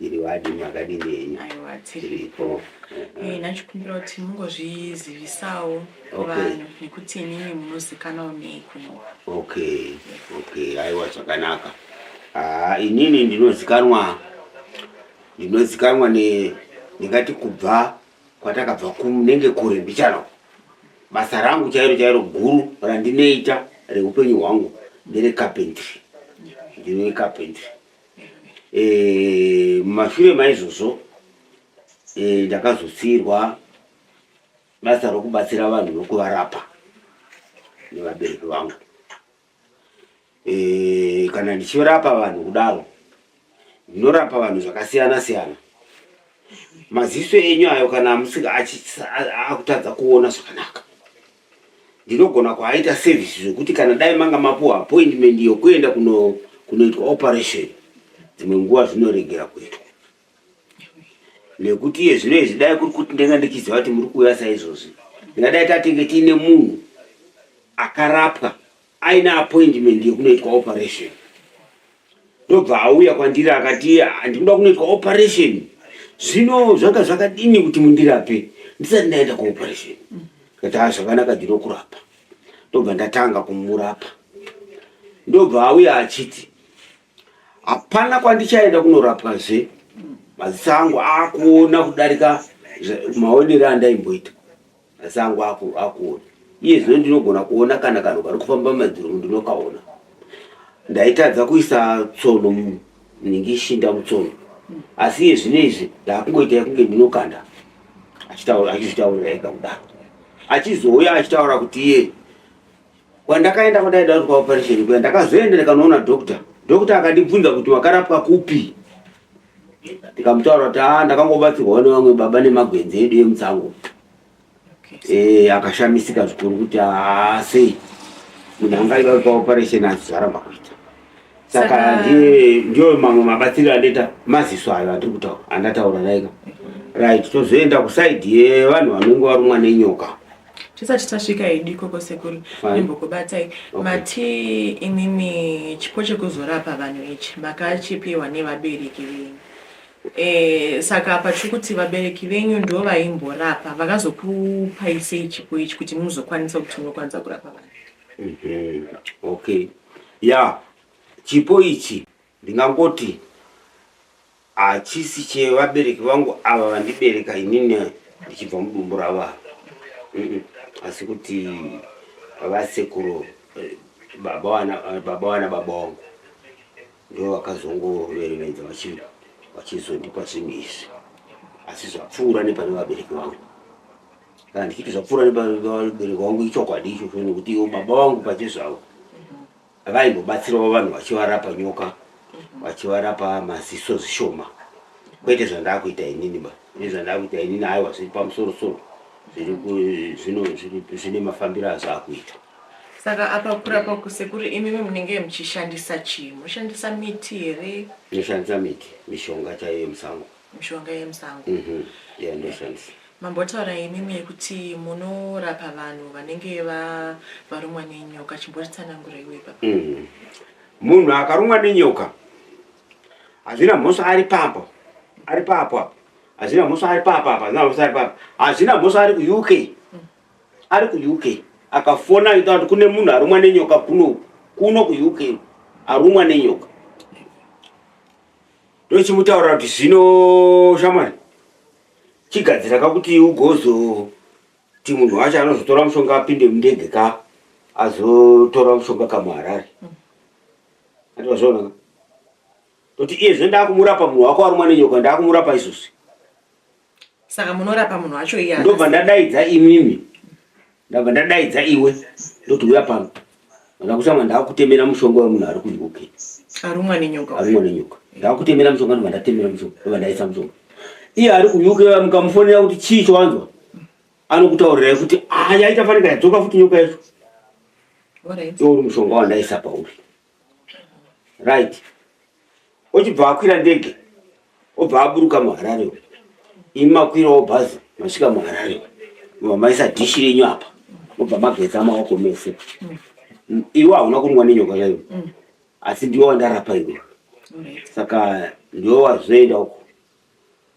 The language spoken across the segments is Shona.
iri wadi makadini henyu aiwa tiripo Eh, ndachikumbira kuti mungozvizivisawo Okay. vanhu nekuti inini munozikanawo nei kuno okay okay aiwa zvakanaka haa inini ndinozikanwa ndinozikanwa ne ndingati kubva kwatakabva kunenge kure mbichana basa rangu chairo chairo guru randinoita reupenyu hwangu ndere carpentry ndine carpentry eh, mumashure maizvozvo eh, ndakazosiirwa basa rokubatsira vanhu nokuvarapa nevabereki vangu e, kana ndichirapa vanhu kudaro ndinorapa vanhu zvakasiyana siyana maziso enyu ayo kana amusika akutadza kuona zvakanaka ndinogona kuaita service zvekuti kana dai manga mapuwa appointment yokuenda kunoitwa operation dzimwe nguva zvinoregera kuitwa nekuti iye zvino izvi dai kuri kuti ndanga ndichiziva kuti muri kuuya saizvozvi ndingadai tatenge tiine munhu akarapwa aine appointment yekunoitwa operation ndobva auya kwandiri akati ah, ndikuda kunoitwa operation zvino zvanga zvakadini kuti mundirape ndisati ndaenda kuoperation kati a zvakanaka ndinokurapa ndobva ndatanga kumurapa ndobva auya achiti Hapana kwandichaenda kunorapwa zve maziso angu akuona kudarika maonero andaimboita. Maziso angu akuona iye zvino ndinogona kuona kana kanhu kari kufamba madziro ndinokaona. Ndaitadza kuisa tsono ndinenge ishinda mutsono asi iye zvino izvi ndakungoita yekunge ndinokanda achizvitaurira ega kudaro achizouya achitaura kuti iye Kwandakaenda kwandaida kuti kwaoperation kuya ndakazoenda ndikanoona doctor. Doctor akandibvunza kuti wakarapwa kupi? Ndikamutaura kuti ah ndakangobatsirwa nevamwe baba nemagwenzi edu emutsango. Eh akashamisika zvikuru kuti ah sei munhu angaida kwaoperation azvara makuita. Saka ndiye ndiyo mamwe mabatsiro andaita maziso ayo atiri kutaura andataura naika. Right tozoenda kuside yevanhu vanenge varumwa nenyoka. tisati tasvika hedu ikoko sekuru imbokubatai mati imimi chipo chekuzorapa vanhu ichi makachipiwa nevabereki venyu e, saka apa tiri kuti vabereki venyu ndo vaimborapa vakazokupai sei chipo ichi kuti muzokwanisa kuti munokwanisa kurapa vanhu mhm. okay ya yeah. chipo ichi Ndingangoti hachisi chevabereki vangu ava vandibereka inini ndichibva mudumbu ravo ava Mm-mm. asi kuti vasekuru eh, baba wana eh, baba wana baba wangu ndivo vakazongoverevedza vachi- vachizondipa zvinhu izvi asi zvapfuura nepane vabereki vangu kana ndichiti zvapfuura nepane vabereki vangu ichokwadi ichocho nekuti ivo baba vangu pachezvavo vaimbobatsirawo vanhu vachivarapa nyoka vachivarapa maziso zvishoma kwete zvandakuita inini ba ini zvandakuita inini aiwa zviri pamusoro soro zvine mafambiro azvo akuita saka apa kurapa kusekuru imimi munenge muchishandisa chii moshandisa miti here inoshandisa miti mishonga chaiyo yemusango mishonga yemusango mm -hmm. yeah, ndozvanzi mambotaura imimi yekuti munorapa vanhu vanenge varumwa nenyoka chimbotitsanangura iwe papa mm. munhu akarumwa nenyoka hazvina mhosva ari papo ari papo apo hazvina mhosva ari papo apo hazvina mhosva ari papo hazvina mhosva ari kuuk mm. ari kuuk akafona aita kuti kune munhu arumwa nenyoka kuno kuno kuuk arumwa nenyoka ndochimutaura kuti zvino shamwari chigadzira ka kuti ugozoti munhu wacho anozotora mushonga apinde mundege ka azotora mushonga kamuharare ativazvaonaka toti iye zve ndakumurapa munhu wako arumwa nenyoka ndakumurapa izvozvi saka munorapa munhu wacho iye ndobva ndadaidza imimi ndabva ndadaidza iwe ndoti uya pano ndakutanga ndakutemera mushonga wemunhu ari kunyuke arumwa nenyoka arumwa nenyoka ndakutemera mushonga ndobva ndatemera mushonga ndobva ndaisa mushonga iye ari kunyuke mukamufonera kuti chii chowanzwa anokutaurirai kuti ayaita ah, fanira yadzoka futi nyoka yacho iwo uri mushonga wandaisa pauri right ochibva akwira ndege obva aburuka muharare imi makwirawo bhazi masvika muharare obva maisa dhishi renyu apa obva mageza maoko mese iwe hauna kunwa nenyoka yayo asi ndiwe wandarapa iwe saka ndiwe wazoenda uko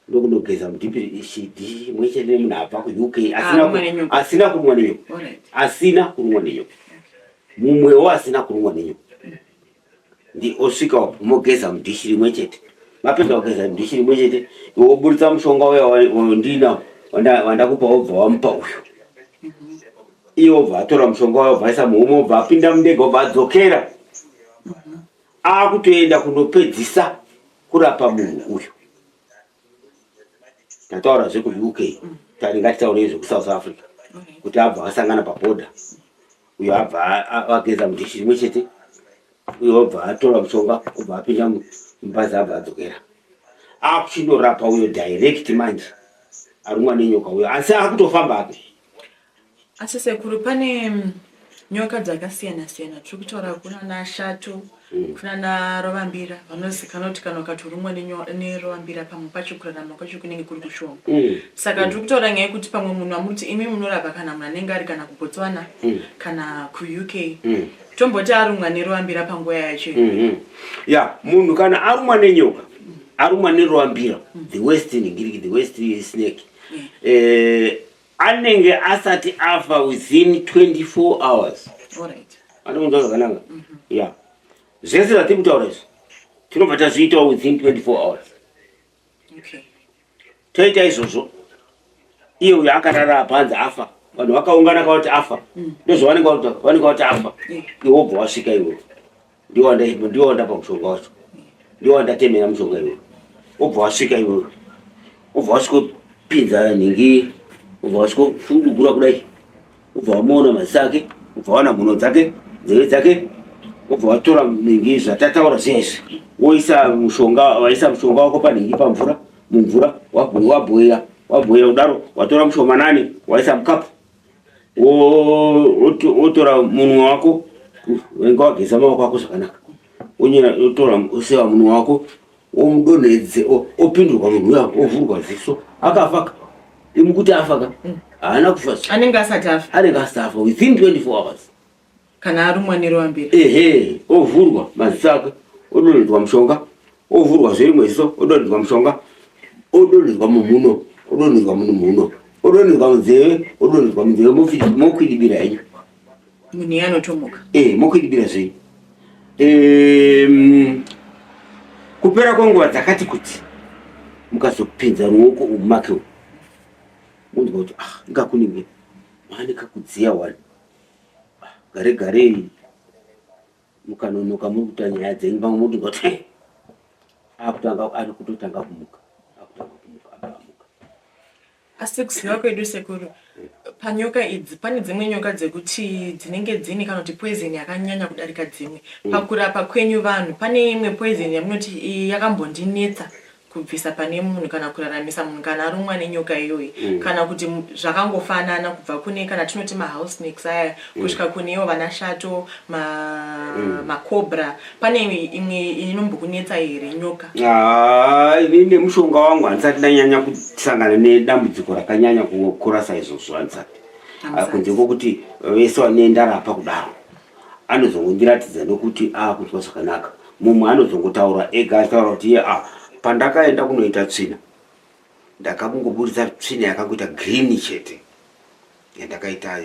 ndokunogeza mudhipiri ishidi mwechete nemunhu abva kuuk asina kurumwa nenyoka asina kurumwa nenyoka mumwewo asina kurumwa nenyoka ndi osvika upo mogeza mudhishi rimwe chete mapedza kugeza mudhishi rimwe chete woburitsa mushonga uya wandina wandakupa wobva wamupa uyu mhm. iye obva atora mushonga uya obva aisa muhuma obva apinda mundege obva adzokera mhm. akutoenda kunopedzisa kurapa munhu uyu tataura zvekuuk tati ngatitaurei zvekusouth africa kuti abva asangana paboda uyo abva ageza mudhishi rimwe chete uyo abva atora mushonga obva apinda mubhazi abva adzokera akuchinorapa uyo direct manje arumwa nenyoka uyo asi akutofamba ake Asi sekuru pane nyoka dzakasiyana siyana tiri kutaura kuna nashato mm. kuna narovambira vanozikana kuti kana ukatorumwa nerovambira pamwe pacho kurarama kwacho kunenge kuri kushoma mm. saka tiri kutaura nyaya yekuti pamwe munhu amuti imi munorapa kana munhu anenge ari kana kubotswana mm. kana kuuk tomboti arumwa nerovambira panguva yacho mm-hmm. ya munhu kana arumwa nenyoka arumwa nerovambira the west ngiriki the west snake eh, anenge asati afa within 24 hours anokunzwa zvakanaka mhm. ya zvese zvatiri kutaura izvi tinobva tazviitawo within 24 hours toita izvozvo iye uyo akarara panzi afa vanhu vakaungana kavati afa mm. ndozvavanenge vati afa iwobva wasvika iwewe ndiwanda ipo ndiwanda pamushonga wacho ndiwanda temera mushonga iwe ubva wasvika iwe ubva wasvikopinza nhingi ubva wasvikofudugura kudai ubva wamuona maziso ake ubva wana mhuno dzake nzeve dzake ubva watora nhingi zvatataura zviya izvi woisa mushonga waisa mushonga wako panhingi pamvura mumvura wabhoira wabhoira kudaro watora mushomanani waisa mukapu wotora munwe wako wenga wageza maoko ako zvakanaka wotora oseva munwe wako womudonhedze opindurwa munhu uya ovhurwa ziso akafaka imukuti afaka mm. haana kufa anenge asati afa anenge asati afa within 24 hours kana arumwa nerwambira ehe ovhurwa maziso ake odonhedzwa mushonga ovhurwa zverimwe ziso odonhedzwa mushonga odonhedzwa mumhuno odonhedzwa munumhuno odonhedzwa munzeve odonhedzwa munzeve mokwidibira henyu munhu iye anotomuka e eh, mokwidibira zvei kupera kwenguva dzakati kuti mukazopinza ruoko umake unzwa kuti ah ingakunenge maanekakudziya wani gare gare mukanonoka muri kuita nyaya dzenyu vamwe moti ngoti eh, akutanga ari kutotanga kumuka akutanga kumuka akamuka asi kuziva kwedu sekuru panyoka idzi pane dzimwe nyoka dzekuti dzinenge dzine kana kuti poizeni yakanyanya kudarika dzimwe mm. pakurapa kwenyu vanhu pane imwe poizeni yamunoti yakambondinetsa kubvisa pane munhu kana kuraramisa munhu kana arumwa nenyoka iyoyi mm. kana kuti zvakangofanana kubva kune kana tinoti mahouse snakes aya mm. kusvika kunewo vanashato mm. macobra ma pane imwe inombokunetsa here nyoka ah, ini nemushonga wangu handisati ndanyanya kusangana nedambudziko rakanyanya kukurasa izvozvo handisati ah, kunze kwokuti vese vane ndarapa kudaro anozongondiratidza nokuti aakunzwa zvakanaka mumwe anozongotaura ega achitaura kuti iye a pandakaenda kunoita tsvina ndakakungoburitsa tsvina yakangoita green chete yandakaita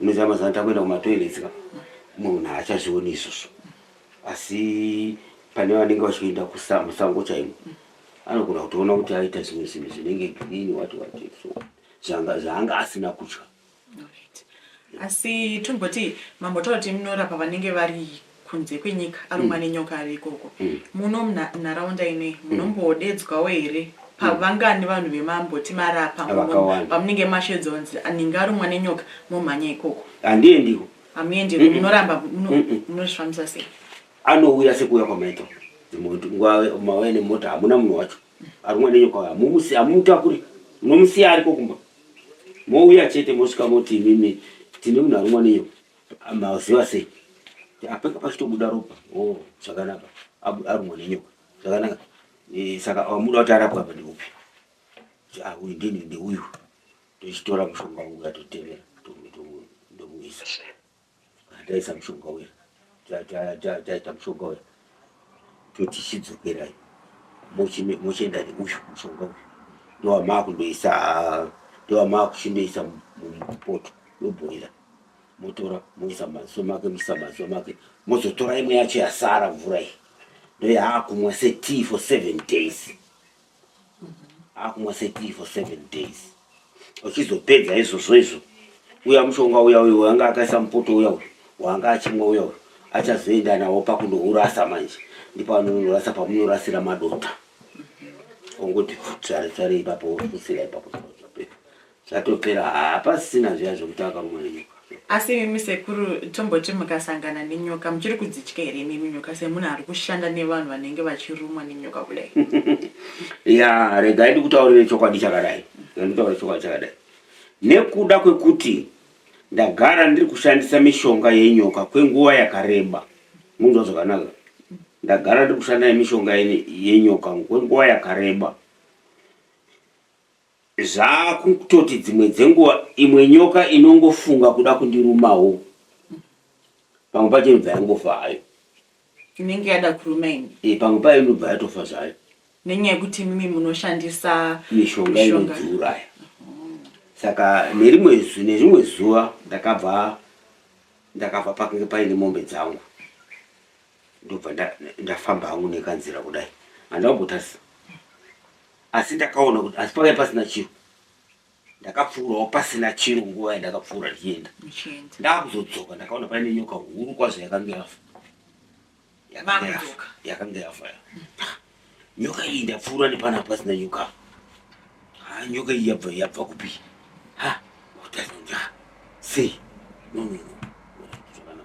unoziva mazuva ano takuenda kumatoilets ka munhu haachazvioni izvozvo asi pane vanenge vachienda musango chaimo anogona kutoona kuti aita zvimwe zvinhu zvinenge green wati wati so zvaanga asina kutya Alright. Asi tomboti mambotaura kuti munorapa vanenge vari kunze kwenyika arumwa mm. nenyoka ari ikoko mm. muno munharaunda inei mm. munombodedzwawo here pavangani vanhu vemamboti marapa pamunenge mashedza kunzi aninge arumwa nenyoka momhanya ikoko handiendiko hamuendiko munoramba munozvifambisa sei anouya sekuuya kwamaita nguva mauya nemota hamuna munhu wacho Arumwa nenyoka uya mumusi amumutakuri munomusiya ariko kumba mouya chete mosvika moti imimi tine munhu arumwa nenyoka maziva sei apeka pachitobuda ropa o oh, zvakanaka arumwa nenyoka zvakanaka e, saka amuda kuti arapwa apa ndeupi ah, uyu ndini ndeuyu tochitora mushonga uyu atotevera ndomuisa Taisa mushonga uya taita mushonga uya toti chidzokerayi mochienda neuyu mushonga uyu ndowamakundoisa ndowamakuchindoisa mupoto yobhoira motora moisa maziso make moisa maziso make mozotora imwe yacho yasara mvura iyi ndoyaakumwa setii for seven days akumwa setii for seven days uchizopedza izvozvo izvo uya mushonga uya uyo waanga akaisa mupoto uya uyo waanga achimwa uya uyo achazoenda nawo pakunourasa manje ndipanonorasa pamunorasira madota ongoti tsvare tsvare ipapo usira ipapo Zvatopera hapasisina zviya zvekuti akarumwa nenyoka. Asi imimi sekuru tomboti mukasangana nenyoka muchiri kudzitya here imimi nyoka semunhu ari kushanda nevanhu vanenge vachirumwa nenyoka kudai? ya regai ndikutaurire chokwadi chakadai ndikutaurire chokwadi chakadai nekuda kwekuti ndagara ndiri kushandisa mishonga yenyoka kwenguva yakareba munzwa zvakanaka ndagara ndiri kushanda nemishonga yenyoka kwenguva yakareba Zvakutoti dzimwe dzenguva imwe nyoka inongofunga kuda kundirumawo pamwe pacho inobva yangofa hayo. Inenge yada kuruma ini. Eh, pamwe payo inobva yatofa zvayo. Nenyaya yekuti imimi munoshandisa mishonga inodziuraya. Saka nerimwe nezvimwe zuva ndakabva ndakabva pakanga paine mombe dzangu. ndobva ndafamba hangu nekanzira kudai handina kumbotarisa asi ndakaona kuti asi pakai pasina chiro ndakapfuurawo pasina chiro nguva yandakapfuura ndichienda ndakuzodzoka ndakaona paine nyoka huru kwazvo yakange yafa yakange yafa yakange yafa Nyoka iyi ndapfuura nepana pasina nyoka. Ha nyoka iyi yabva yabva kupi? Ha kutadza nja. Sei? No no no. Zvakana.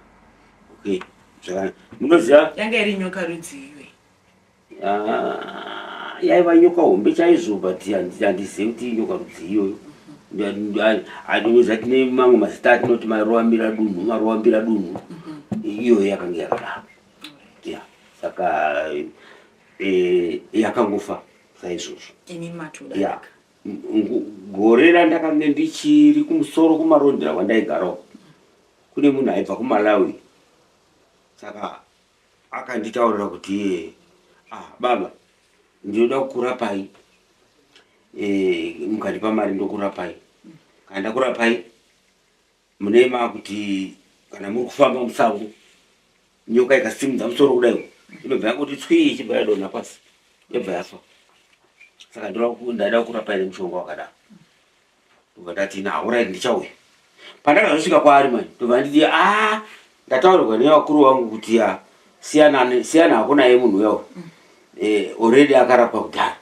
Okay. Zvakana. Munoziva? Yanga iri nyoka rudziwe. Ah, yaiva nyoka hombe chaizvo but handizivi kuti nyoka rudzii iyoyo atinozati nemamwe mazita atinoti maroambira dunhu maroambira dunhu mhm. iyoyo yakanga yakadaro yeah saka eh, yakangofa saizvozvo yeah gore randakange ndichiri kumusoro kumarondera kwandaigarawo kune munhu aibva kumalawi saka akanditaurira kuti iye ah, baba ndinoda kukurapai e, eh, mukandipa mari ndokurapai kana ndakurapai Munema kuti kana muri kufamba musango nyoka ikasimudza musoro kudai inobva yangoti tswii ichibva yadonha pasi yobva yafa. Saka ndaida kurapa ine mushonga wakadaro ndobva ndati ina horaiti ndichauya. Pandakazosvika kwaari mani ndobva nditi aa ndataurirwa nevakuru vangu kuti ya siyana siyana hako naye munhu uya uyu eh, already akarapwa kudhara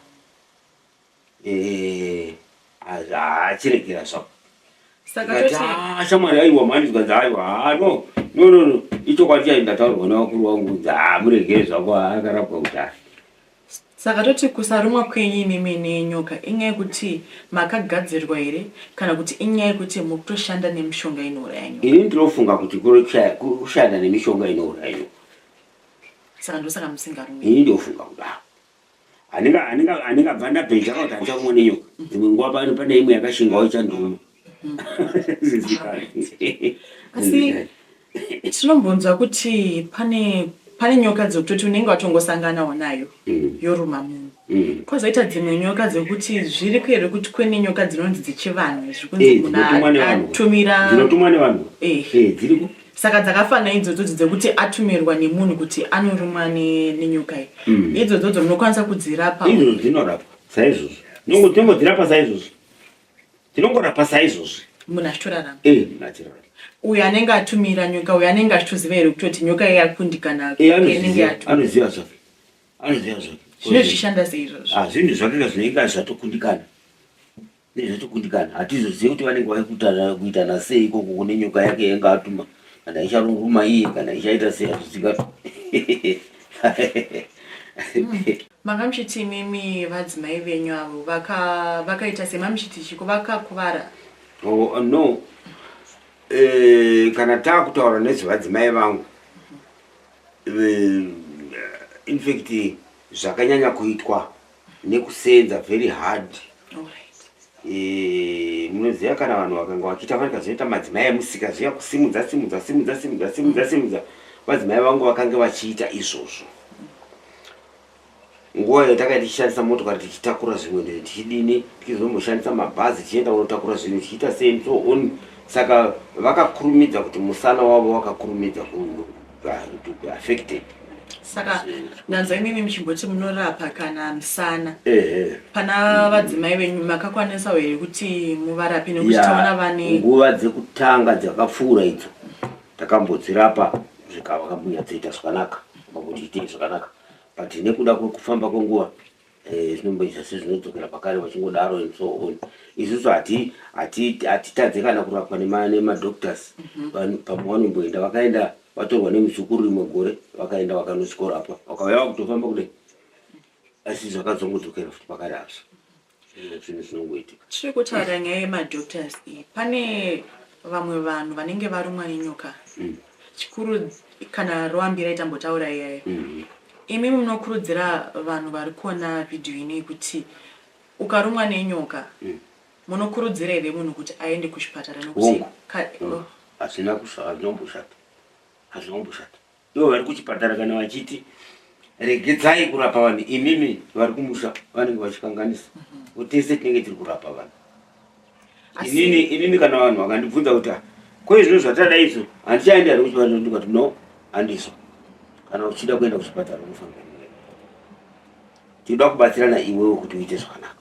Eh, achiregera zvapo ah, shamwari aiwa mhani zvikanzi aiwa ah, no no no no ichokwadi chai ndataurwa nevakuru vangu kunzi ha ah, muregere zvako akarapwa kudhara saka toti kusarumwa kwenyu imimi nenyoka inyaya yekuti makagadzirwa here kana kuti inyaya yekuti muri kutoshanda nemishonga inouraya nyoka ini ndinofunga kuti kushanda nemishonga inouraya nyoka saka ndosaka musingarumi ini ndofunga kudaro handingabva ndabhenja kuti handisa kumwa nenyoka dzimwe nguva pano pane imwe yakashingawo ichanduma asi tinombonzwa kuti pane pane nyoka dzekutoti unenge watongosanganawo nayo mm. yoruma munhu mm. kwazoita dzimwe nyoka dzekuti zviri kuhere kuti kune nyoka dzinonzi dzechivanhu zvikunzi eh, munhu atumira dzinotumwa nevanhu eh. eh, dziriko saka dzakafana idzodzodzo dzekuti atumirwa nemunhu kuti anorumwa nenyoka iyi mm. idzodzodzo munokwanisa kudzirapa izvozvo dzinorapwa saizvozvo tinongodzirapa saizvozvo tinongorapa saizvozvo munhu achitorarama eh, uyo anenge atumira nyoka uyo anenge achitoziva here kutoti nyoka iye akundikana eh, anoziva zvake anoziva zvake zvine zvishanda seizvozvo ah, zvinhu zvakanga zvinenge zvatokundikana nezvechikundikana hatizozive kuti vanenge vaikutanana kuita nasei ikoko kune nyoka yake yainge atuma kana icharunguma iye kana ichaita sei hazvizingatu manga muchiti imimi vadzimai venyu avo vakaita sei mamuchiti chiko vakakuvara oh, no eh, kana taakutaura nezvevadzimai vangu eh, infact zvakanyanya kuitwa nekusenza very hard eh, munoziva kana vanhu vakanga vachiita vari kazoita madzimai emusika zviya kusimudza simudza simudza simudza simudza simudza vadzimai vangu vakange vachiita izvozvo nguva iyo takaita tichishandisa motokari tichitakura zvimwe ndizvo tichidini tichizomboshandisa mabhazi tichienda kunotakura zvinhu tichiita same so on saka vakakurumidza kuti musana wavo wakakurumidza vanhu to be affected saka ndanzwa imimi muchimboti munorapa kana musana pana vadzimai venyu makakwanisawo here kuti muvarape nekuti taona vane nguva dzekutanga dzakapfuura idzo takambodzirapa zvikava kambunyadzoita zvakanaka makuti itei zvakanaka but nekuda kwekufamba kwenguva Eh, zvinomboita sezvinodzokera pakare vachingodaro and so on isusu hatitadze kana kurapwa nemadoctors mhm. pamwe vanomboenda vakaenda vatorwa nemuzukuru rimwe gore vakaenda vakanozikorapwa vakauya vakutofamba kudai asi zvakazongodzokera futi pakare azvo zvinhu zvinongoitika tiri kutaura nyaya yemadoctors iyi pane vamwe vanhu vanenge varumwa nenyoka mm. Chikuru kana roambira itambotaura iyaya. Imimi munokurudzira vanhu vari kuona video inoyi kuti ukarumwa nenyoka munokurudzira here munhu kuti aende kuchipatara nekuti Hongu. ka- oh, Hazvina kusha- hazvina kumboshata. Hazvina kumboshata. Ivo vari kuchipatara kana vachiti regedzai kurapa vanhu imimi vari kumusha vanenge vachikanganisa. Tese tinenge tiri kurapa vanhu. inini inini kana vanhu vakandibvunza kuti ah, ko izvo zvatadada izvo handichaenda here kuchipatara ndikati no handiso kana uchida kuenda kuchipatara unofanira tinoda kubatsirana iwewo kuti uite zvakanaka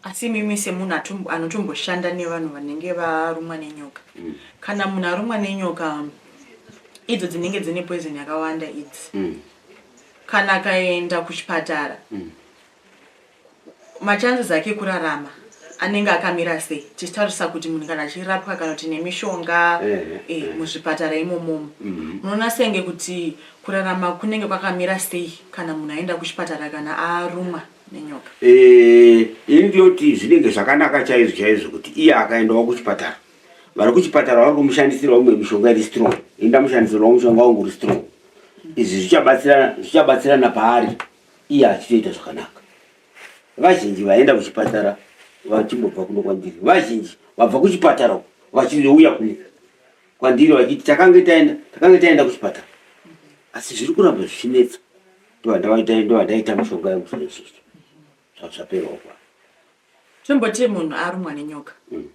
asi mimi semunhu anotomboshanda nevanhu vanenge varumwa nenyoka mm. kana munhu arumwa nenyoka idzo dzinenge dzine poison yakawanda idzi mm. kana akaenda kuchipatara mm. Machances ake ekurarama anenge akamira sei tichitarisa kuti munhu kana achirapwa kana kuti nemishonga eh, eh, eh, eh. muzvipatara imomomo mhm. munoona mm -hmm. senge kuti kurarama kunenge kwakamira sei kana munhu aenda kuchipatara kana arumwa nenyoka eh, ini ndinoti zvinenge zvakanaka chaizvo chaizvo kuti iye akaendawo kuchipatara vari kuchipatara vari kumushandisirwa umwe mishonga iri strong ini ndamushandisirwa mushonga wangu uri strong izvi zvichabatsirana paari iye achitoita zvakanaka. Vazhinji vaenda kuchipatara vachimbobva kuno kwandiri, vazhinji vabva kuchipatara vachizouya kuno kwandiri vachiti takange taenda takange taenda kuchipatara, asi zviri kuramba zvichinetsa. Ndovandaita mushonga yangu zvaizvizvi zvazvaperawo kwa tomboti munhu arumwa nenyoka mm.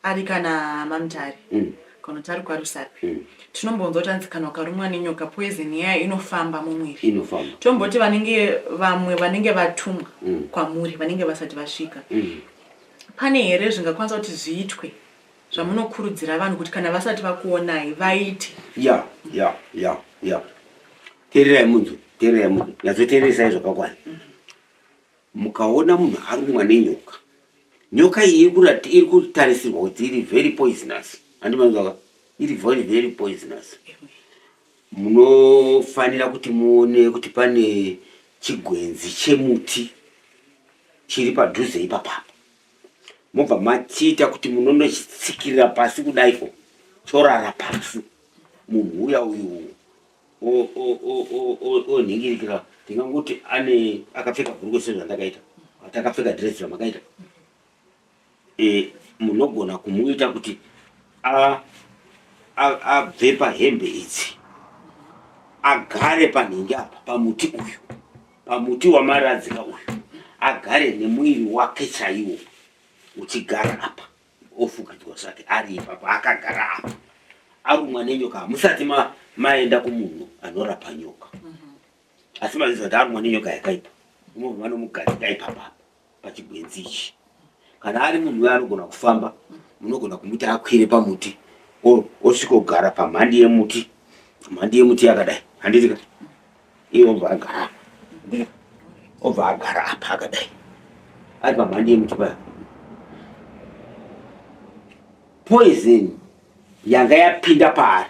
Ari kana mamtare mm. kana kuti ari kwarusapi mm. tinombonzwa kuti anzi kana ukarumwa nenyoka poison yayo inofamba mumwiri inofamba tomboti vanenge vamwe vanenge vatumwa mm. kwamuri vanenge vasati vasvika mm. pane here zvingakwanisa kuti zviitwe zvamunokurudzira vanhu kuti kana vasati vakuonai vaite ya ya ya ya tererai munzwe tererai munzwe nyatsoteeresai zvakakwana mm -hmm. Mukaona munhu arumwa nenyoka, nyoka iyi iri kutarisirwa kuti iri very poisonous, handi manzwaka, iri very very poisonous, munofanira kuti muone kuti pane chigwenzi chemuti chiri padhuze ipapapo, mobva machiita kuti munonochitsikirira pasi kudaiko, chorara pasi, munhu uya uyu onhingirikira ndingangoti ane akapfeka bhurukwe sezvandakaita atakapfeka dress zvamakaita e, munogona kumuita kuti abve pahembe idzi agare panhingi apa pamuti uyu pamuti wamaradzika uyu agare nemuiri wake chaiwo uchigara apa ofukidzwa zvake ari ipapo akagara apo arumwa nenyoka hamusati maenda kumunhu anorapa nyoka mhm. asi maziva kuti arumwa nenyoka yakaipa unovo vanomugadzika ipapa pachigwenzi ichi kana ari munhu uye anogona kufamba munogona kumuti akwire pamuti osvikogara pamhandi yemuti mhandi yemuti yakadai handitika iye obva agara obva agara apa akadai ari pamhandi yemuti paya poison yanga yapinda paari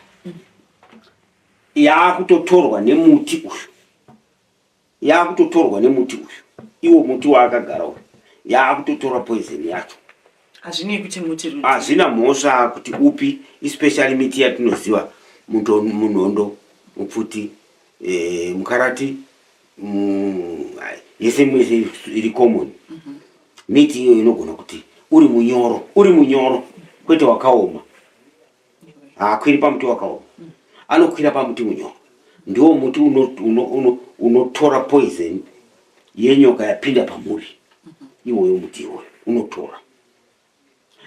yaakutotorwa nemuti uyu yaakutotorwa nemuti uyu iwo muti waakagara uyu yaakutotora poison yacho hazvinei kuti muti rudzi hazvina mhosva kuti upi especially miti yatinoziva muto munhondo mupfuti e, mukarati mu, yese mwese iri common mm -hmm. miti iyoyo inogona kuti uri munyoro uri munyoro kwete wakaoma haakwiri pamuti wakaoma anokwira pamuti unyoka ndiwo muti unotora uno, uno, uno poison yenyoka yapinda pamuri iwoyo muti iwoyo unotora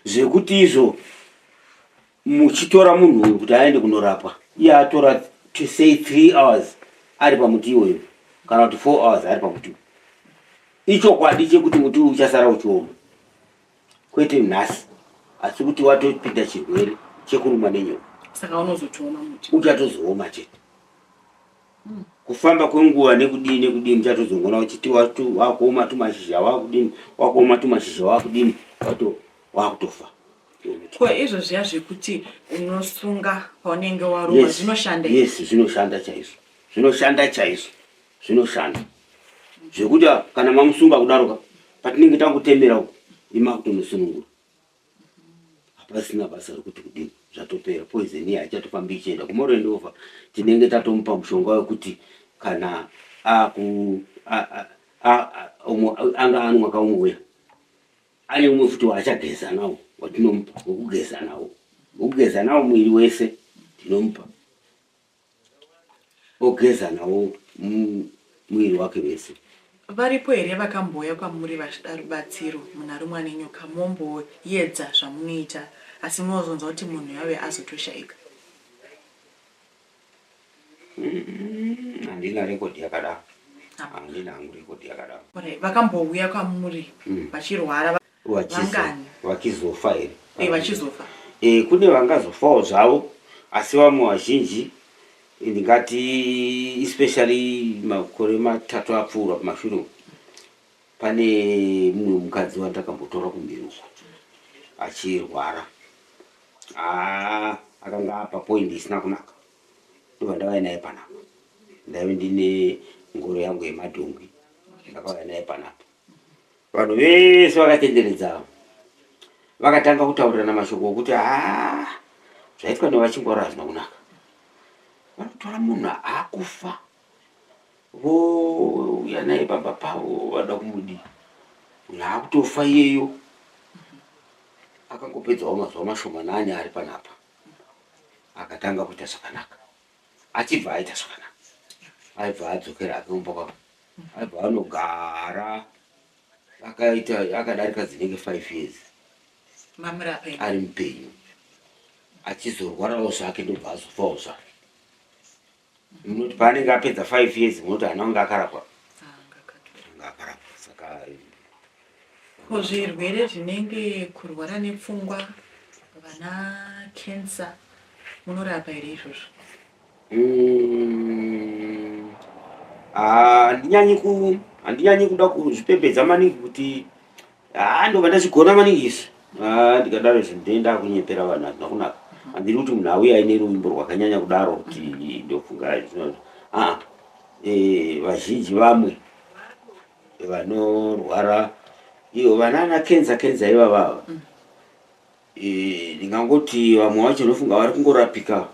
zvekuti izvo muchitora munhu uyu kuti aende kunorapwa iye atora to say three hours ari pamuti iwoyo kana kuti four hours ari pamuti ichokwadi chekuti muti uyu uchasara uchioma kwete nhasi asi kuti watopinda chirwere chekurumwa nenyoka saka unozotiona muti uchatozooma chete hmm. kufamba kwenguva nekudini nekudini uchatozongona uchiti wakuoma tumashizha wakudini wakuoma tumashizha wakudini wato wakutofa ko izvo zviya zvekuti unosunga paunenge waruma zvinoshanda yes zvinoshanda chaizvo zvinoshanda chaizvo zvinoshanda zvekuti kana mamusunga kudaroka patinenge tangotemera uko ima kutonosunungura hapasina basa rekuti kudini zvatopera poison iya haichatofambi ichienda kumorendova tinenge tatomupa mushonga wekuti kana aku anga ano mwaka umwe uya ane umwe futi waachageza nawo watinomupa wekugeza nawo wekugeza nawo mwiri wese tinomupa ogeza nawo muviri wake wese. Varipo here vakambouya kwamuri vachida rubatsiro munaRumwanenyoka momboyedza zvamunoita asi munozonzwa kuti munhu yave azotoshaika? Handina record yakadaro. Handina hangu record yakadaro. Vakambouya kwamuri vachirwara vachizofa here eh, vachizofa e, kune vangazofawo zvavo asi vamwe vazhinji ndingati especially makore matatu apfuura kumashure pane mumwe mukadzi wandakambotora kumberi uko achirwara akanga apa point isina kunaka ndovandavai naye panapa ndaive ndine ngoro yangu yemadhongwi ndakauya naye panapa Vanhu vese vakatenderedza ava vakatanga kutaurirana mashoko okuti haa zvaitwa nevachingwaro hazvina kunaka vanotora munhu akufa vouya naye pamba pavo vada kumudii munhu akutofa iyeyo akangopedzawo mazuva mashomanani ari panapa akatanga kuita zvakanaka achibva aita zvakanaka aibva adzokera hake kumba kwavo aibva anogara akaita akadarika dzinenge five years ari mupenyu achizorwarawo zvake ndobva azofawo zvake munoti paanenge apedza five years munoti ana ange akarapwa anga akarapwa saka Ko zvirwere zvinenge kurwara nepfungwa vana cancer munorapa here izvozvo? Mm, handinyanyi ku handinyanyi kuda kuzvipembedza maningi kuti haa ah, ndobva ndazvigona maningi izvi ah, ndikadaro izvi ndoenda kunyepera vanhu hazvina kunaka mhm. handiri kuti munhu auya aine ruvimbo rwakanyanya kudaro kuti ndofunga izvozvo aa ah, eh, vazhinji vamwe vanorwara iyo vanana kenza kenza ivavava mm. e, ndingangoti vamwe vacho unofunga vari kungorapika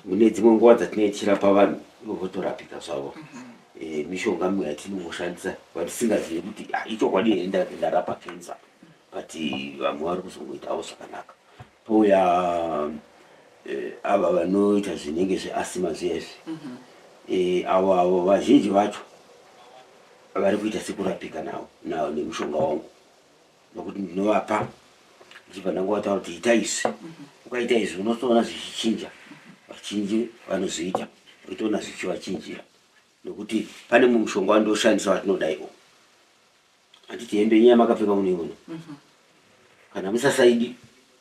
mune dzimwe nguva dzatinenge tichirapa vanhu ivo votorapika zvavo mhm. e, mishonga mimwe yatinomoshandisa vatisingazivi kuti ah, ichokwadi here ndarapa kenza but vamwe vari kuzongoitawo zvakanaka pouya e, ava vanoita zvinenge zveasima zviya izvi mhm. e, avo avo vazhinji vacho vari kuita sekurapika nawo nawo nemushonga wangu nokuti ndinovapa ndichibva ndangowataura kuti ita izvi ukaita izvi unotoona zvichichinja vachinji vanozoita unotoona zvichivachinjira nokuti pane mumwe mushonga wandoshandisa watinodaiwo handiti hembe nyaya makapfeka munoiona mhm. kana musasaidi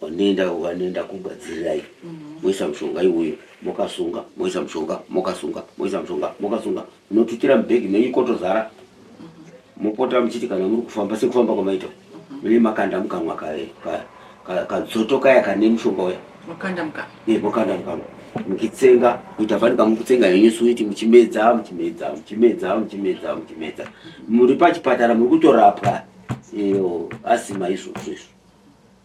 Vanoenda vanoenda kumba dzirirai moisa mushonga iwoyo mokasunga moisa mushonga mokasunga moisa mushonga mokasunga motukira mubhegi menyu kotozara mopota muchiti kana muri kufamba sekufamba kwamaita mune makanda mukanwa kadzoto kaya kane mushonga uya mokanda mukanwa muchitsenga kuita fani kamukutsenga henyu suiti muchimedza muchimedza muchimedza muchimedza muchimedza muri pachipatara muri kutorapwa iyo asima izvozvo izvo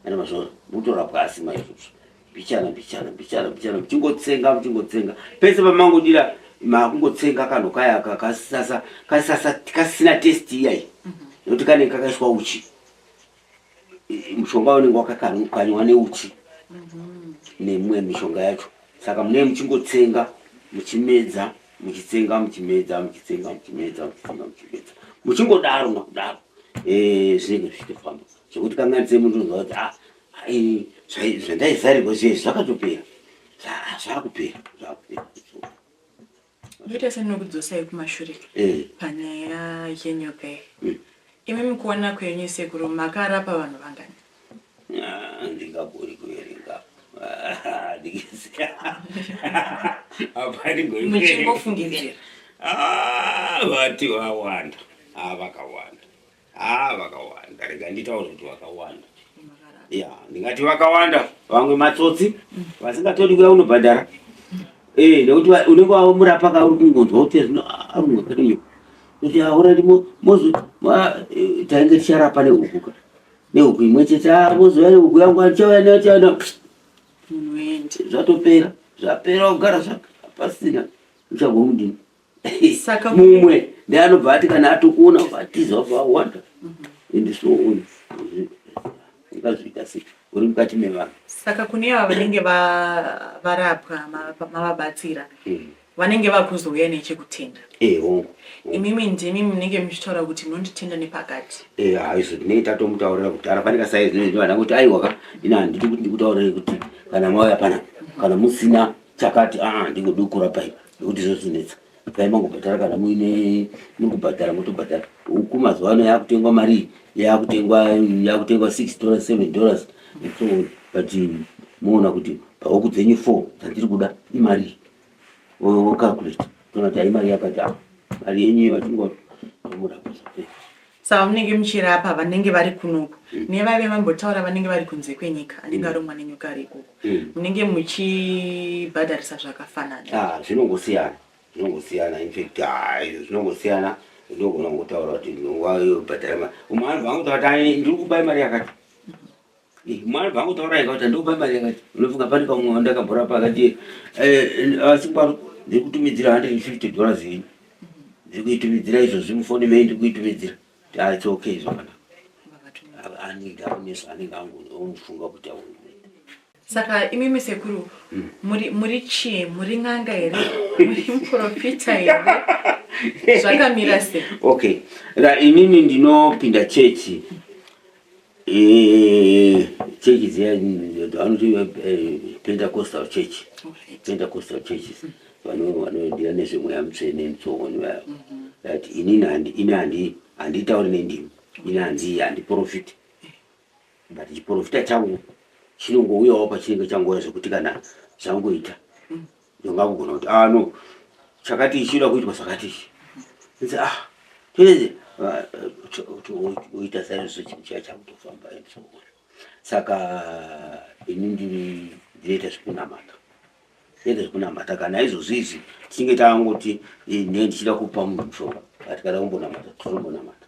Ana mazvona mutorapwa asi maizvozvo mbichana mbichana mbichana mbichana muchingotsenga muchingotsenga pese pamangodira makungotsenga kanhu kaya kasasa kasasa kasina test iyayi mhm. nokuti kanenge kakaiswa uchi mushonga unenge wakakanywa neuchi mhm. nemwe mishonga yacho saka mune muchingotsenga muchimedza muchitsenga muchimedza muchitsenga muchimedza muchitsenga muchimedza muchingodaro makudaro eh, zvinenge zvichitofamba Zvekuti kamwana dzemu ndonzwa kuti ah, ah, zvandaizarirwa zviye zvakatopera zvakupera zvakupera ndoita sendinokudzosai kumashure eh. panyaya yenyoka iyi hmm. imi mukuona kwenyu sekuru makarapa vanhu vangani ah, ndingagori kuverenga muchingofungiririra vati vawanda avakawanda Haa vakawanda rega nditaure kuti vakawanda ya ndingati vakawanda vamwe matsotsi vasingatodi kuya unobhadhara eh, nekuti unenge wamurapa ka uri kungonzwa kuti aunokadinyo kuti aurati mozo eh, tainge ticharapa neuku ka neuku imwe chete ah, mozouya neuku yangu achauya neachana zvatopera zvapera kugara zvapasina uchagomudini Saka mumwe ndiye anobva ati kana atokuona vatiza wabva wawanda ende so on ungazviita sei uri mukati mevanhu saka kune ava vanenge va- varapwa ma- mavabatsira Eh, vanenge vakuzouya nechekutenda eh, hongu imimi ndimi munenge muchitaura kuti munonditenda nepakati Eh, haizo ndinenge tatomutaurira kudhara pane kasaizi nezvivana kuti aiwaka ini handidi kuti ndikutaurire kuti kana mauya pana kana musina chakati aa ah, ndingodukura paipa nekuti zvozinetsa pai mangobhadhara kana muine muri kubhadhara motobhadhara huku mazuva ano yakutengwa marii yakutengwa yakutengwa six dollars seven dollars so but moona kuti pahuku dzenyu four dzandiri kuda imarii wocalculate toona kuti haimari yakati a ah, mari yenyu yatingotomurapisa savamunenge muchirapa vanenge vari kunoku mm. nevaive vambotaura vanenge vari kunze kwenyika anenge mm. aromwa nenyoka ari ikoko mm. munenge muchibhadharisa zvakafanana ah, zvinongosiyana zvinongosiyana infact ah, zvinongosiyana ndogona kutaura kuti nguva yobhadhara umwe anhu vangu taati ndiri kubai mari yakati Mwari paakutaura yakati andokupa mari yakati unofunga pane pamwe wandakabhora pakati eh, asi kwaro ndiri kutumidzira 150 dollars yenyu ndiri kuitumidzira izvozvi mufoni mei ndiri kuitumidzira ah, it's okay zvakanaka anenge aoneswa anenge angomufunga kuti aona saka imimi sekuru hmm. muri muri chii muri n'anga here muri muprofita here zvakamira se okay ra imimi ndinopinda chechi chechi dziya vanoti pentacostal church pentacostal churches vanoendia nezvemweya mutsvene mutsovoni vaya that inini ini handitauri nendimi ini hanzi handiprofiti but chiprofita changu chinongouyawo pachinenge changouya zvekuti kana zvangoita Ndanga kugona kuti ah no chakati chinoda kuitwa zvakati ichi. Nditi ah tese oita saizvozvo chinhu chiya chakutofamba saka ini ndiri ndinoita zvekunamata ende zvekunamata kana izvozvi izvi tichinge tangoti ne ndichida kupa munhu mushonga ati kada kumbonamata tinombonamata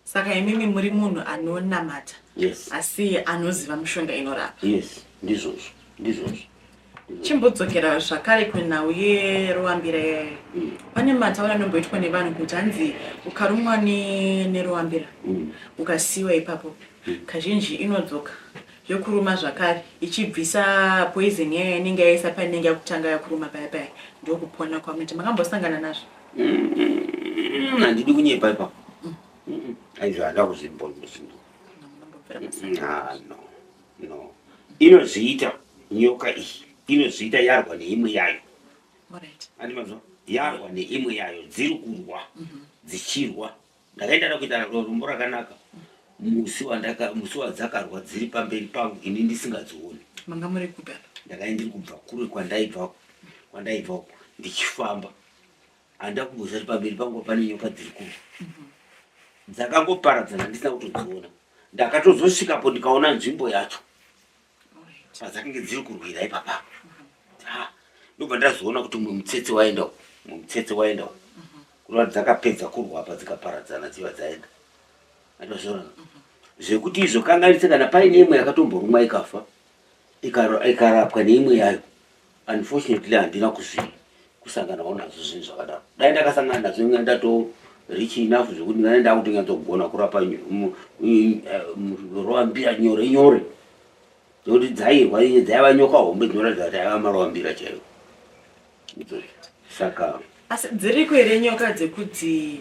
Saka imimi muri munhu anonamata yes. asi anoziva mushonga inorapa yes. ndizvozvo ndizvozvo chimbodzokera zvakare kunhau yeruambira yayo mm. pane mataura anomboitwa nevanhu kuti hanzi ukarumwa neruambira mm. ukasiyiwa ipapo mm. kazhinji inodzoka yokuruma zvakare ichibvisa poison yayo yanenge yaisa painenge yakutanga yakuruma paya paya ndokupona kwamuti makambosangana nazvo Mm, handidi kunyepa ipa mm, aizvo handa kuzvimbonzvindo ah, no no inozviita nyoka iyi inozviita yarwa neimwe yayo andi mazvo yarwa neimwe yayo dziri kurwa mhm. dzichirwa Ndakaita nekuita naro rumbo rakanaka musi wandaka musi wadzakarwa dziri pamberi pangu ini ndisingadzioni. Manga muri kupi apa? Ndakanga ndiri kubva kure kwandaibva kwandaibva uko ndichifamba. Handida kumboziva kuti pamberi pangu pane nyoka dziri kurwa. Dzakangoparadzana ndisina kutodziona. Ndakatozosvikapo ndikaona nzvimbo yacho. padzakange dziri kurwira ipapa ndobva ndazoona kuti mumwe mutsetse waenda mumwe mutsetse waenda kureva kuti dzakapedza kurwa apa dzikaparadzana dziva dzaenda atozviona zvekuti izvo kanganise kana paine imwe yakatomborumwa ikafa ikarapwa neimwe yayo unfortunately handina kuzvi kusanganawo nazvo zvinhu zvakadaro dai ndakasangana nazvo inga ndato rich enough zvekuti ndinga ndakutonyatsogona kurapa roambira nyore nyore nekuti dzairwa inye dzaiva nyoka hombe dzinoratidza kuti aiva maroambira chaiwo saka asi dziriko here nyoka dzekudzi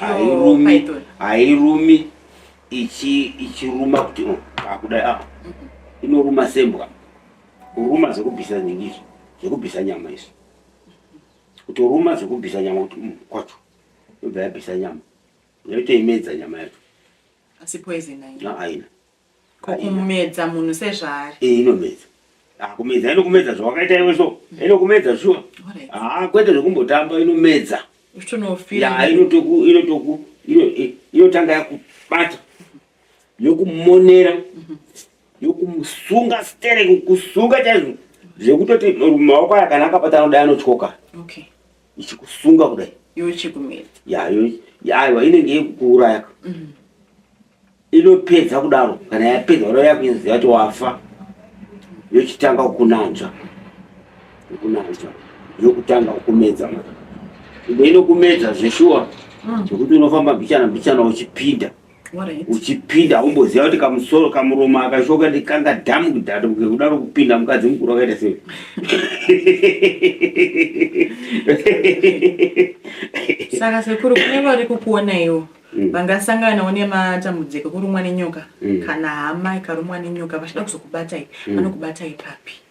hairumi hairumi ichiruma kuti oh, akudai apa inoruma sembwa kuruma zvekubvisa nyingizvo zvekubvisa nyama izvo kutoruma zvekubvisa nyama kuti mm, kwacho yobva yabvisa nyama yotoimedza nyama yacho asi poison haina kumedza munhu sezvaari eh, inomedza ah, kumedza inokumedza zvawakaita iwe so mm. inokumedza shuwa haa ah, kwete zvekumbotamba inomedza inotanga yakubata yokumonera mm-hmm. yokusunga stere kusunga chaizvo zvekutoti maoko aya kana akabata anoda anotyoka ichikusunga kudai iwe chikumira yayo yaiwa inenge yekukuuraya mm. inopedza kudaro kana yapedza kudaro yakuziva kuti wafa yochitanga kukunanzva yokunanzva yokutanga kukumedza imwe inokumedza zveshuwa mm. zvekuti unofamba mbichana mbichana uchipinda uchipinda umboziva kuti kamusoro kamuromo akashoka ndi kanga dhamu kudhatu kuke kudaro kupinda mukadzi mukuru akaita sei saka sekuru kune vari kukuonaiwo mm. vangasanganawo nematambudziko kurumwa nenyoka mm. kana hama ikarumwa nenyoka vachida kuzokubatai mm. vanokubatai papi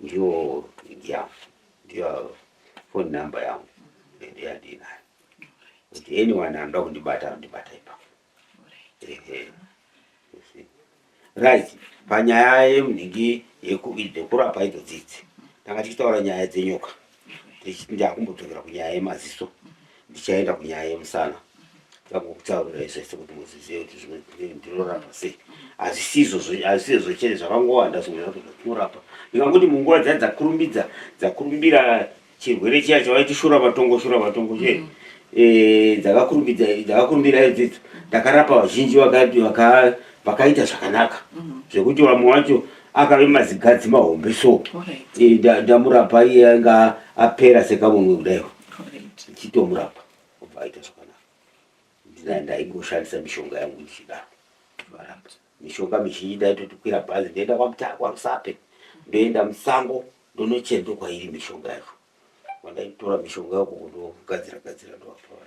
ndiwo idya ndiyo phone number yangu ende yandinayo kuti anyone anoda kundibata anondibata ipapo right panyaya yemunhingi yekurapa idzo dzidzi tanga tichitaura nyaya dzenyoka ndakumbodzokera kunyaya yemaziso ndichaenda kunyaya yemusana ndakukutaurirai zvese kuti muzizive kuti zvimwe ndinorapa sei hazisizo hazisizvo chete zvakangowanda zvimwe zvacho zvatinorapa ndikangoti munguva dzai dzakurumbidza dzakurumbira chirwere chiya chavaiti shura matongo shura matongo che mm. eh, dzakakurumbidza dzakakurumbira idzidzo ndakarapa vazhinji vakaita zvakanaka mm. zvekuti vamwe vacho akave mazigadzi mahombe so eh, ndamurapa iye anga apera sekamunwe kudaiwo chitomurapa obva aita zvakanaka ndina ndaingoshandisa mishonga yangu ndichidaro varapa mishonga mizhinji ndaitotikwira bhazi ndoenda kwamutara kwarusape ndoenda musango ndonochera ndokwairi mishonga yacho kwandaitora mishonga yako kundogadzira gadzira ndovapaa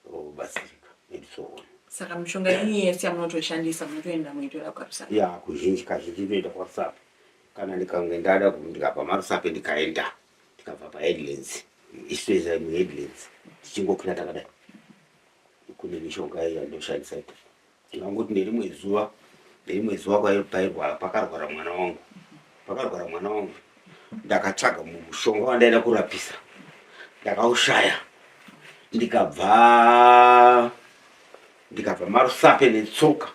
kubatsirika and so on saka mishonga yenyu yese yamunotoishandisa munotoenda muitora kwarusape ya kuzhinji kazhinji inoenda kwarusape kana ndikange ndada ndikabva marusape ndikaenda ndikabva paheadlands istoisa muheadlands tichingokwira takadai kune mishonga iya ndoshandisa ikoko Ndingangoti nerimwe zuva nerimwe zuva pairwara pakarwara mwana wangu pakarwara mwana wangu ndakatsvaga mushonga wandaida kurapisa ndakaushaya ndikabva ndikabva marusape netsoka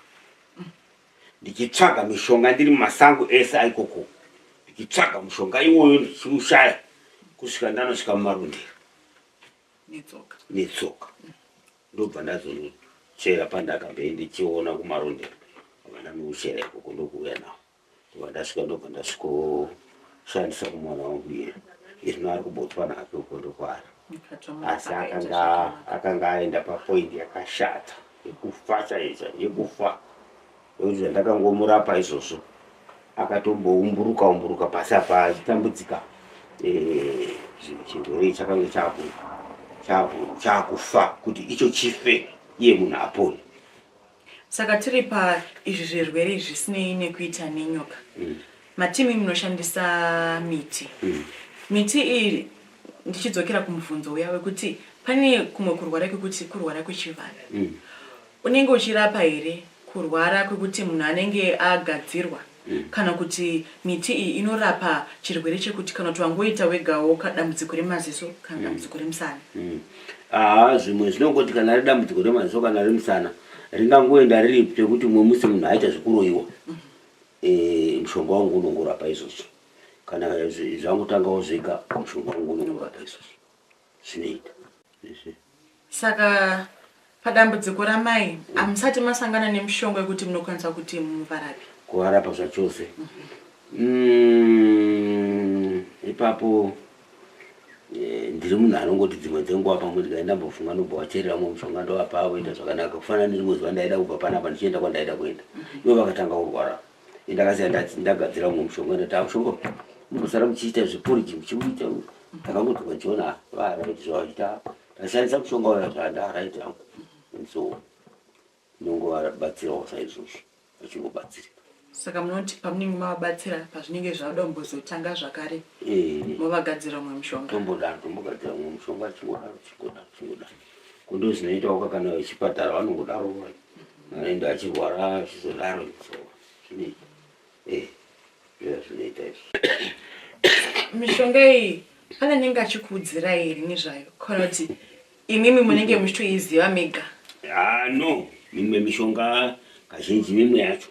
ndichitsvaga mishonga ndiri mumasango ese aikoko ndichitsvaga mushonga iwoyo ndichiushaya kusvika ndanosvika mumarundiro netsoka Ndobva ndazonochera pandakabve ndichiona kumarondera vana nouchera ikoko ndokuuya nawo ndobva ndasvika ndobva ndasvikoshandisa kumwana wangu iye izvino ari kubotwa nake uko ndokwara asi akanga aenda papoindi yakashata yekufa chaicha yekufa Ndokuti zvandakangomurapa izvozvo akatomboumburuka umburuka pasi apa achitambudzika eh, chirwere chakange chaakufa kuti icho chife iye munhu apone saka tiri pa izvi zvirwere zvisinei nekuita nenyoka mm. matimi munoshandisa miti mm. miti iyi ndichidzokera kumubvunzo uya wekuti pane kumwe kurwara kwekuti kurwara kwechivanhu mm. Unenge uchirapa here kurwara kwekuti munhu anenge agadzirwa kana kuti miti iyi inorapa chirwere chekuti kana kuti wangoita wegawo ka dambudziko remaziso kana dambudziko remusana? Haa zvimwe zvinongoti kana ari dambudziko remaziso kana remusana ringangoenda riri pekuti umwe musi munhu aita zvekuroyiwa eh, mushonga wangu unongorapa izvozvo kana zvangotangawo zvega mushonga wangu unongorapa izvozvo zvinoita izvi. Saka padambudziko ramai hamusati masangana nemushonga wekuti munokwanisa kuti muvarape? Kuvarapa zvachose. Mm, ipapo eh, ndiri munhu anongoti dzimwe dzenguva pamwe ndikati ndambofunga ndobva wacherera mwe mushonga ndovapa voita zvakanaka kufanana nerimwe zuva ndaida kubva panapa ndichienda kwandaida kuenda ivo vakatanga kurwara ndakasiya ndati ndagadzira umwe mushonga ndati amushonga mukusara muchiita zvepuriji muchimuita ndakangonzi kwajona varaiti zvavaita ndashandisa mushonga waya zvandaraiti hangu so ndongovabatsirawo saizvozvo vachingobatsirika saka munoti pamunenge mavabatsira pazvinenge zvauda kumbozotanga zvakare eh. movagadzira umwe mushonga tombodaro tombogadzira umwe mushonga chingodaro chingodaro chingodaro kundozvinoitawo kakana vechipatara vanongodaro vaya Aenda achirwara achizodaro izvo zvinei eh zviya zvinoita izvo mishonga iyi pane anenge achikuudzirai here nezvayo kana kuti imimi munenge muchitoiziva mega Ah, no mimwe mishonga kazhinji mimwe yacho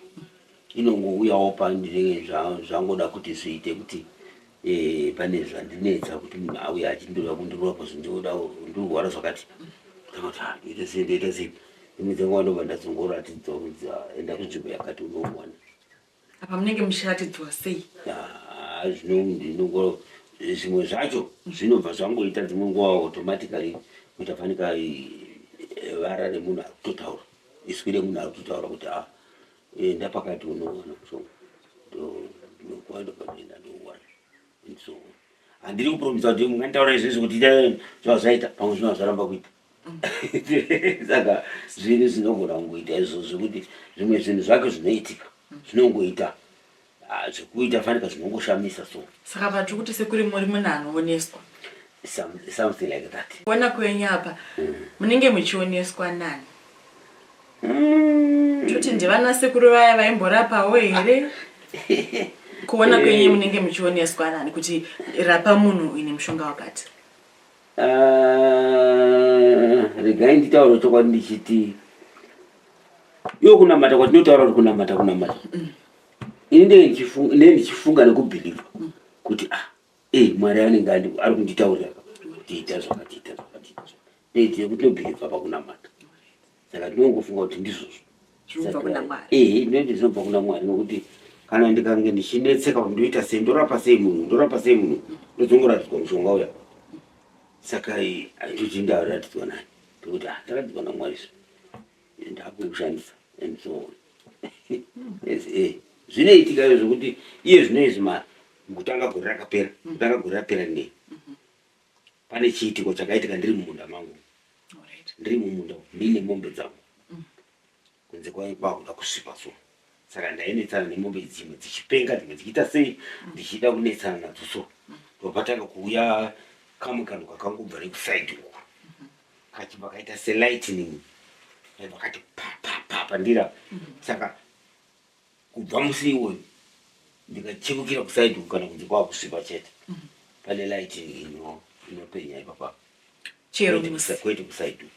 inongouyawo pandinenge zva- zvangoda kuti zviite kuti Eh, pane zvandinetsa kuti munhu auya achindoda kundirova pazvo ndinoda ndirwara zvakati ndakati ah, ndoita sei ndoita sei imwe dzenguva ndobva ndazongoratidzwa kuti ah, enda kunzvimbo yakati unomuwana apa munenge muchiratidzwa sei Ah, zvino ndinongo zvimwe zvacho zvinobva zvangoita dzimwe nguva automatically kuti afanika eh, vara remunhu akutotaura iswi remunhu akutotaura kuti ah, Eh, ndapakati unoona so ndokwanda kwatoenda ndoona so handiri kupromisa kuti munganditaura izvezvi kuti itai zvazvaita pamwe zvino hazvaramba kuita saka zvinhu zvinogona kungoita izvo zvekuti zvimwe zvinhu zvake zvinoitika zvinongoita Ah, zvekuita fanika zvinongoshamisa so saka vatiri kuti sekuri muri munhu anooneswa some, something like that kuona kwenyu apa munenge muchioneswa nani toti ndivana sekuru vaya vaimborapawo here kuona kwenyu munenge muchioneswa nani kuti rapa munhu uyu nemushonga wakati Ah, regai nditaure chokwadi ndichiti yo kunamata kwatinotaura kuti kunamata kunamata ine ndichifunga nekubhilivha mm. kuti ah eh mwari anenge ari kunditaurira tiita zvakatiita zvakatiita neitie kuti nobhilivha pakunamata saka tinongofunga kuti ndizvozvo ehe ndinoti zvinobva kuna mwari nokuti kana ndikange ndichinetseka kuti ndoita sei ndorapa sei munhu ndorapa sei munhu ndodzongoratidzwa mushonga uya saka handiti ndaaratidzwa nani tokuti ah, ndaratidzwa namwari izvo and hakuna kushandisa and so on eh, zvinoitika izvo zvekuti iye zvino izvi ma kutanga gore rakapera mm. kutanga gore rapera nei mm-hmm. pane chiitiko chakaitika ndiri mumunda mangu ndiri mumunda mine mombe dzangu mm. kunze kwakuda kusipa so saka ndainetsana nemombe dzimwe dzichipenga dzimwe dzichiita sei ndichida kunetsana nadzo so ndopatanga kuuya kamwe kanhu kakangobva nekusaidi uku kachibva kaita selightning aibva kati papapapa ndira saka kubva musi iwoyo ndikachekukira kusaidi uku kana kunzi kwakusvipa chete pane lightning inopenya ipapa kwete kusaidi uku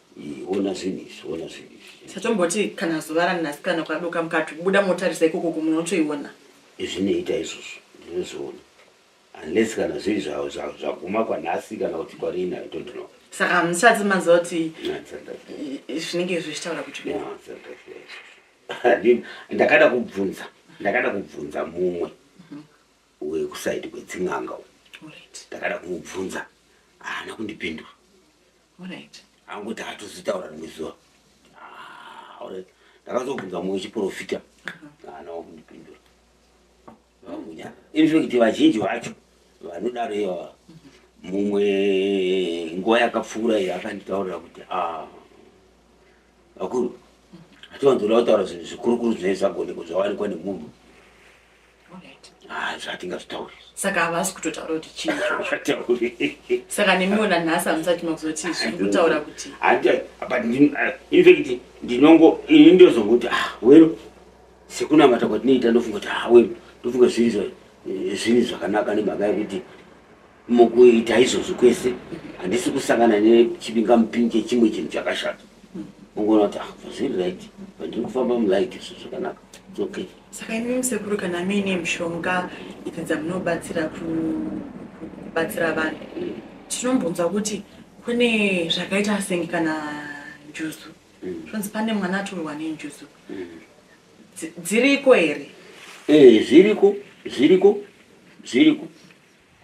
Eh, ona zvinhu izvi ona zvinhu izvi satomboti kana zuva ranasikana kwadoka mukati kubuda motarisa ikoko kumunotoiona izvinoita izvozvo ndinozviona unless kana zviri zvaguma kwanhasi kana kuti kwarina i don't know saka hamusati maziva kuti zvinenge izvo zvichitaura kuti ndakada kubvunza ndakada kubvunza mumwe mhm. wekusaidi kwedzin'anga ndakada kumubvunza haana kundipindura Alright. Angoti hatozitaura rimwe zuva. Ah, alright. Ndakazobvunza mumwe chiporofita. Haana wakundipindura. Vakunyara. In fact vazhinji vacho vanodaro iva mumwe nguva yakapfuura iyo akanditaurira kuti ah, vakuru hatiwanzoda kutaura zvinhu zvikurukuru zvinenge zvagonekwa zvawanikwa nemunhu Ah, zvatingazvitauri saka havasi kutotaura kuti chii saka nemiwo nanhasi hamusati makuzoti zviri kutaura kuti ah, infact ndinongo ini ndozongo kuti ah, wero sekunamata kwatinoita ndofunga kuti ah, wero ndofunga zviri eh, zvinhu zvakanaka nemhaka yekuti Mukuita izvozvo kwese handisi kusangana nechibingamupini chechimwe chinhu chakashata. Ungoona kuti ah, zviri right pandiri kufamba mulight izvo zvakanaka it's okay. Saka imi musekuru kana muine mishonga idzi dzamunobatsira kubatsira vanhu tinombonzwa kuti kune zvakaita senge kana njuzu mm. zvonzi pane mwana atorwa nenjuzu mm. dziriko here? Eh, zviriko zviriko zviriko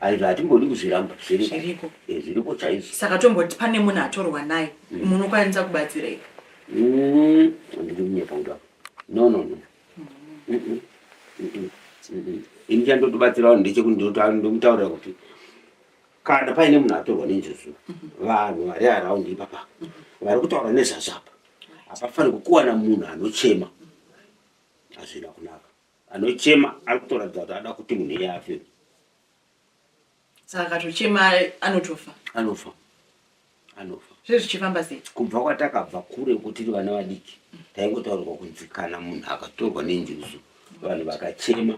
aiva hatingodi kuzviramba zviriko eh, zviriko chaizvo saka tomboti pane munhu atorwa naye mm. munokwanisa kubatsirei mm, handidi kunyepa kuda no no no mm. ini chandotobatsirawo ndechekundomutaurira kuti kana paine munhu atorwa nenjuzu mm-hmm. vanhu vari araundi ipapa mm-hmm. vari kutaura nezvazvo apa hapafaniri kukuwana munhu anochema hazvina kunaka Anochema ari kutoratidza kuti ada kuti munhu iye afe. Saka akatochema anotofa. Anofa. Anofa. Zviri zvichifamba sei? Kubva kwatakabva kure uko tiri vana vadiki taingotaurirwa kunzi kana munhu akatorwa nenjuzu vanhu vakachema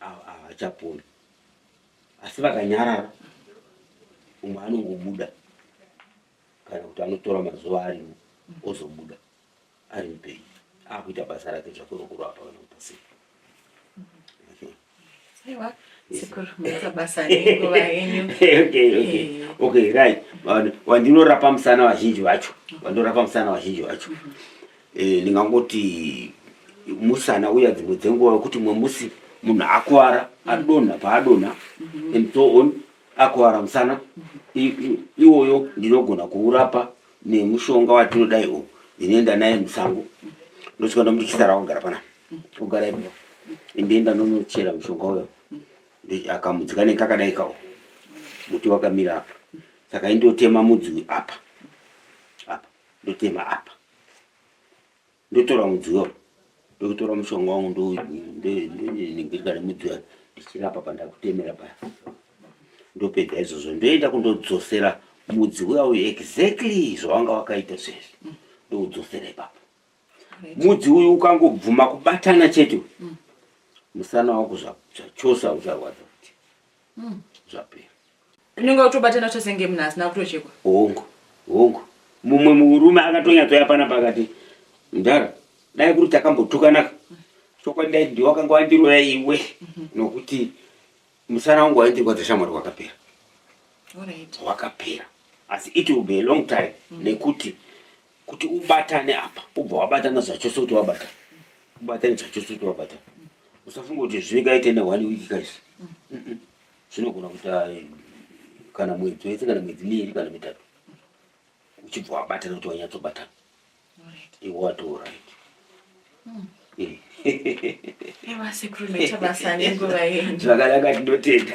havachaponi. Asi vakanyarara umwe anongobuda kana kuti anotora mazuva arimo ozobuda. ari mupenyu akuita basa rake zvako rokurapa kana kupa sipo okay right vandinorapa musana vazhinji vacho vandinorapa musana vazhinji vacho mhm. eh, ndingangoti musana uya dzimwe dzenguva wekuti mwe musi munhu akuvara adonha paadonha mhm. and so on akuvara musana mhm. iwoyo ndinogona kuurapa nemushonga watinodai uyu ndinoenda naye musango ndosvika ndomuti chisara wagara panapa ogara ipo ndoenda ndonochera mushonga uyo akamudzi kanenge kakadai kawo muti wakamira apa saka indotema mudzi uyu apa apa ndotema apa ndotora mudziyo ndokutora mushonga wangu ndonenengirikana mudziyo ndichirapa pandakutemera paya ndopedza izvozvo ndoenda kundodzosera mudzi uya uyu exactly zvawanga wakaita sezvi ndoudzosera ipapo mudzi uyu ukangobvuma kubatana chete musana wako zvachosa ucharwadza mm. zvapera unenge utobatana chose ngemuna asina kutochekwa hongu hongu mumwe murume akatonyatsoya pana pakati mdara dai kuri takambotukanaka chokwadi dai ndiwe wakanga wandiroya iwe mhm. nokuti musana wangu waindirwadza shamwari wakapera wakapera asi it will be a long time mhm. nekuti kuti ubatane apa ubva wabatana zvachose kuti wabata ubatane zvachose kuti wabata usafunga kuti zvingaite ne one week guys zvinogona kuita eh, kana mwedzi wese kana mwedzi miiri kana mitatu uchibva wabatana kuti wanyatsobatana iwe wati orit hmm. eh. zvakanaka tinotenda